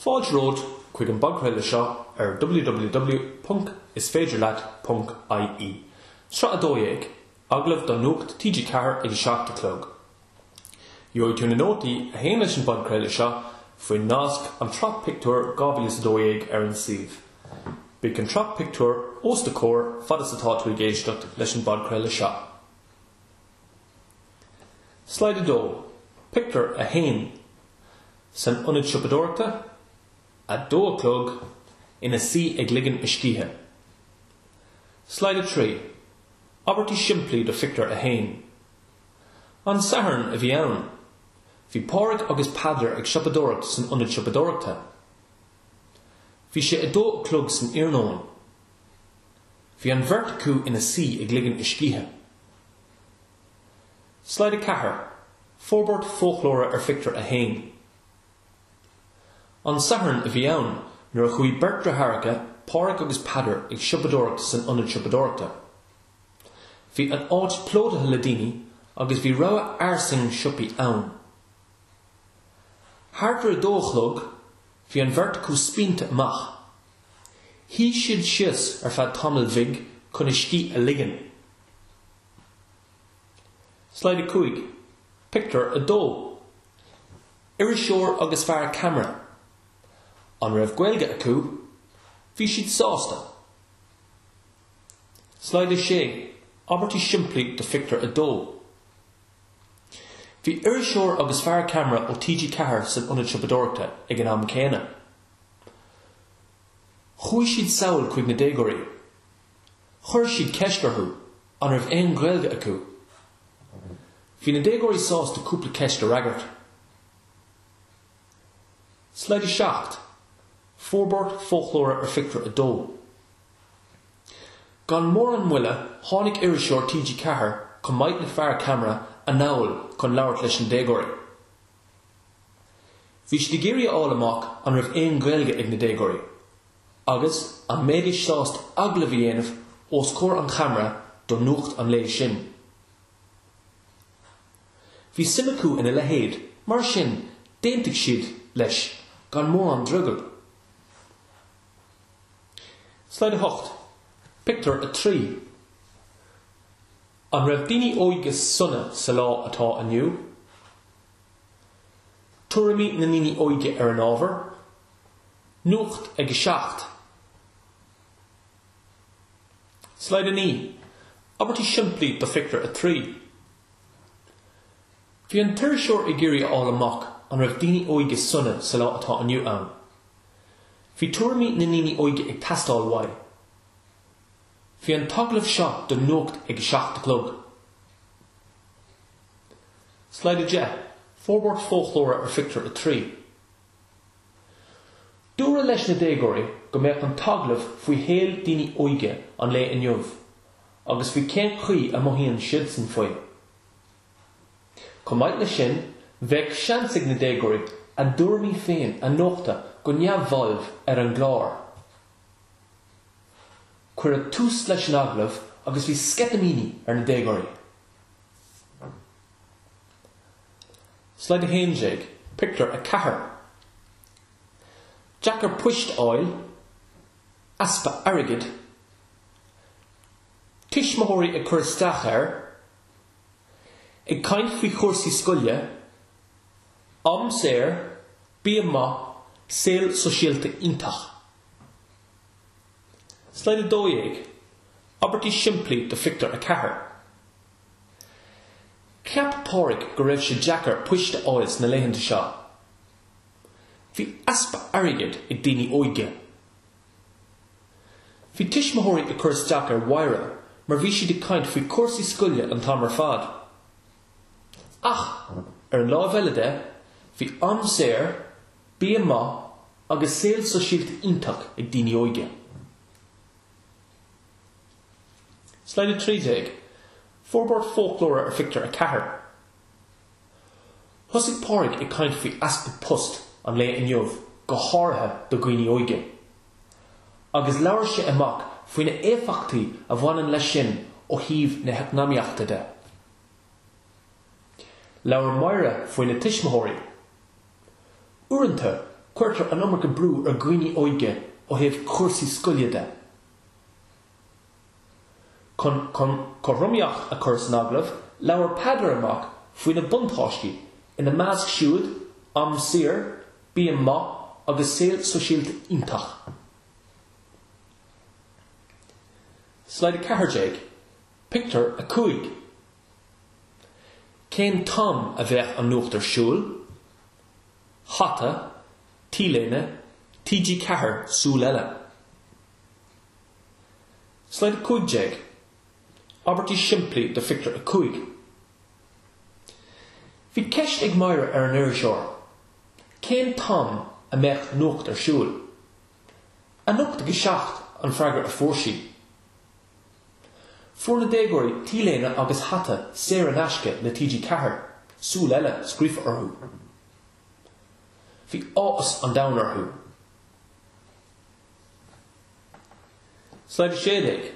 Fáilte romhat chuig an bpodchraoladh seo ar www.isféidirleat.ie, sraith 12, Agallamh do Nuacht TG4 ag a seacht a chlog. Gheobhaidh tú na nótaí a théann leis an bpodchraoladh seo faoin nasc An tSraith Pictiúr 2012 ar an suíomh. Beidh an tSraith Pictiúr os do chomhair fad is atá tú ag éisteacht leis an bpodchraoladh seo. Slide 2, Pictiúr 1 San Ionad Siopadóireachta, 2 a chlog, ina suí ag ligean a scíthe. Slide 3, Abairtí simplí do Phictiúr 1 An Satharn a bhí ann. Bhí Pádraig agus Peadar ag siopadóireacht san ionad siopadóireachta. Bhí sé a dó a chlog san iarnóin. Bhí an bheirt acu ina suí ag ligean a scíthe. Slide 4, Forbairt foclóra ar phictiúr 1. An Satharn a bhí ann nuair a chuaigh beirt deartháireacha, Pádraig agus Peadar, ag siopadóireacht san ionad siopadóireachta. Bhí an áit plódaithe le daoine agus bhí rogha fhairsing siopaí ann. Thart ar a dó a chlog, bhí an bheirt acu spíonta amach. Shuigh siad síos ar feadh tamaill bhig chun a scíth a ligean. Slide 5, Pictiúr 2. Iriseoir agus fear ceamara. An raibh Gaeilge acu? Bhí siad sásta. Slide 6, Abairtí simplí do Phictiúr 2. Bhí iriseoir agus fear ceamara ó TG Ceathair san Ionad Siopadóireachta ag an am céanna. Chuaigh siad sall chuig na déagóirí. Chuir siad ceist orthu an raibh aon Ghaeilge acu. Bhí na déagóirí sásta cúpla ceist a fhreagairt. Slide 7, Forbairt Foclóra ar Phictiúr 2. Gan mórán moille tháinig iriseoir TG4 chomh maith le fear ceamara anall chun labhairt leis na déagóirí. Bhí siad ag iarraidh a fháil amach an raibh aon Ghaeilge ag na déagóirí. Agus an mbeidís sásta agallamh a dhéanamh os comhair an cheamara do nuacht an lae sin? Bhí suim acu in a leithéid, mar sin d'aontaigh siad leis gan mórán drogaill. Slide 8, Pictiúr 3 An raibh daoine óga sona sa lá atá inniu? Tuairimí na ndaoine óga ar an ábhar. Nuacht ag a seacht. Slide 9, Abairtí simplí do Phictiúr 3 Bhí an t-iriseoir ag iarraidh a fháil amach an raibh daoine óige sona sa lá atá inniu ann. Bhí tuairimí na ndaoine óige ag teastáil uaidh. Bhí an t-agallamh seo do Nuacht ag a seacht a chlog. Slide 10, Forbairt foclóra ar Phictiúr 3. Dúradh leis na déagóirí go mbeadh an t-agallamh faoi shaol daoine óige an lae inniu agus faoi cén chaoi a mothaíonn siadsan faoi. Chomh maith leis sin, bheadh seans ag na déagóirí a dtuairimí féin a nochtadh go neamhbhalbh ar an gclár. Cuireadh tús leis an agallamh agus bhí sceitimíní ar na déagóirí. Slide 11, Pictiúr 4 Deacair poist fháil, easpa airgid, tuismitheoirí ag cur isteach air, ag caint faoi chúrsaí scoile, am saor, bia maith, saol sóisialta iontach. Slide 12, Abairtí simplí do Phictiúr 4. Cheap Pádraig go raibh sé deacair poist a fháil sna laethanta seo. Bhí easpa airgid ag daoine óige. Bhí tuismitheoirí ag cur isteach ar Mháire mar bhí siad ag caint faoi chúrsaí scoile an t-am ar fad. Ach, ar an láimh eile de, bhí am saor, bia maith agus saol sóisialta iontach ag daoine óige. Slide 13, Forbairt foclóra ar phictiúr 4 Thosaigh Pádraig ag caint faoi easpa post an lae inniu go háirithe do dhaoine óige. Agus labhair sé amach faoi na éifeachtaí a bhaineann leis sin ó thaobh na heacnamaíochta de. Labhair Máire faoi na tuismitheoirí. Uaireanta cuirtear an iomarca brú ar dhaoine óige ó thaobh cúrsaí scoile de. Chun cothromaíocht a chur san agallamh, labhair Peadar amach faoi na buntáistí, ina measc siúd, am saor, bia maith agus saol sóisialta iontach. Slide 14, Pictiúr 5 Cén t-am a bheidh an nuacht ar siúl? hata, t-léine, TG Ceathair, Súil Eile. Slide 15, Abairtí simplí do Phictiúr 5 Bhí ceist ag Máire ar an iriseoir cén t-am a mbeadh nuacht ar siúl. Anocht ag a seacht an freagra a fuair sí. Fuair na déagóirí t-léine agus hata saor in aisce le TG Ceathair, 'Súil Eile' scríofa orthu. Bhí áthas an domhain orthu. Slide 16,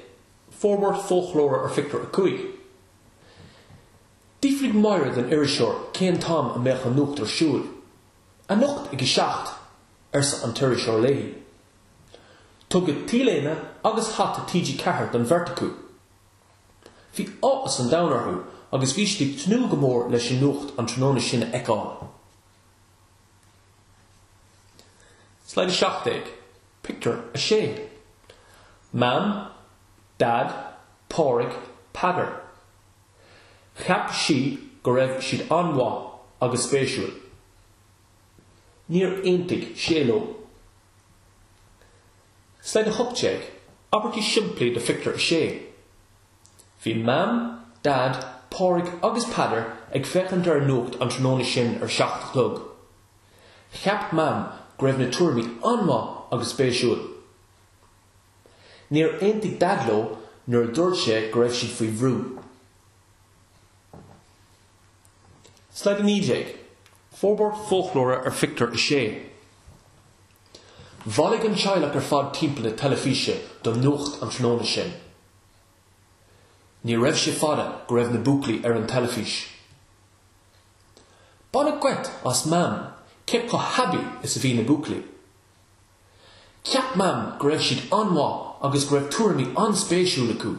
Forbairt foclóra ar Phictiúr 5. D'fhiafraigh Máire den iriseoir cén t-am a mbeadh an nuacht ar siúl. Anocht ag a seacht! arsa an t-iriseoir léi. Tugadh t-léine agus hata TG4 don bheirt acu. Bhí áthas an domhain orthu agus bhí siad ag tnúth go mór leis an nuacht an tráthnóna sin a fheiceáil. Slide 17, Pictiúr 6 Mam, Dad, Pádraig, Peadar Cheap sí go raibh siad an-mhaith agus spéisiúil. Níor aontaigh sé leo. Slide 18, Abairtí simplí do Phictiúr a Sé Bhí Mam, Dad, Pádraig agus Peadar ag féachaint ar an nuacht an tráthnóna sin ar a seacht a chlog. Cheap Mam go raibh na tuairimí an-mhaith agus spéisiúil. Níor aontaigh Dad leo nuair a dúirt sé go raibh siad faoi bhrú. Slide 19, Forbairt foclóra ar phictiúr a sé. Bhailigh an teaghlach ar fad timpeall na teilifíse don nuacht an tráthnóna sin. Ní raibh sé fada go raibh na buachaillí ar an teilifís. Baineadh geit as Mam cé chomh haibí is a bhí na buachaillí. Cheap Mam go raibh siad an-mhaith agus go raibh tuairimí an-spéisiúil acu.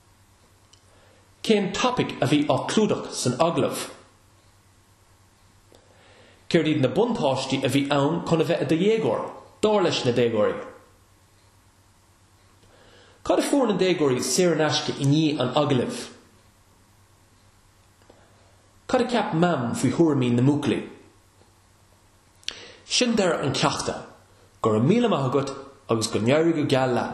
Cén topaic a bhí á clúdach san agallamh? Céard iad na buntáistí a bhí ann chun a bheith i do dhéagóir, dar leis na déagóirí? Cad a fuair na déagóirí saor in aisce i ndiaidh an agallaimh? Cad a cheap Mam faoi thuairimí na mbuachaillí? Sin deireadh an cheachta. Go raibh míle maith agat agus go n-éirí go geal leat!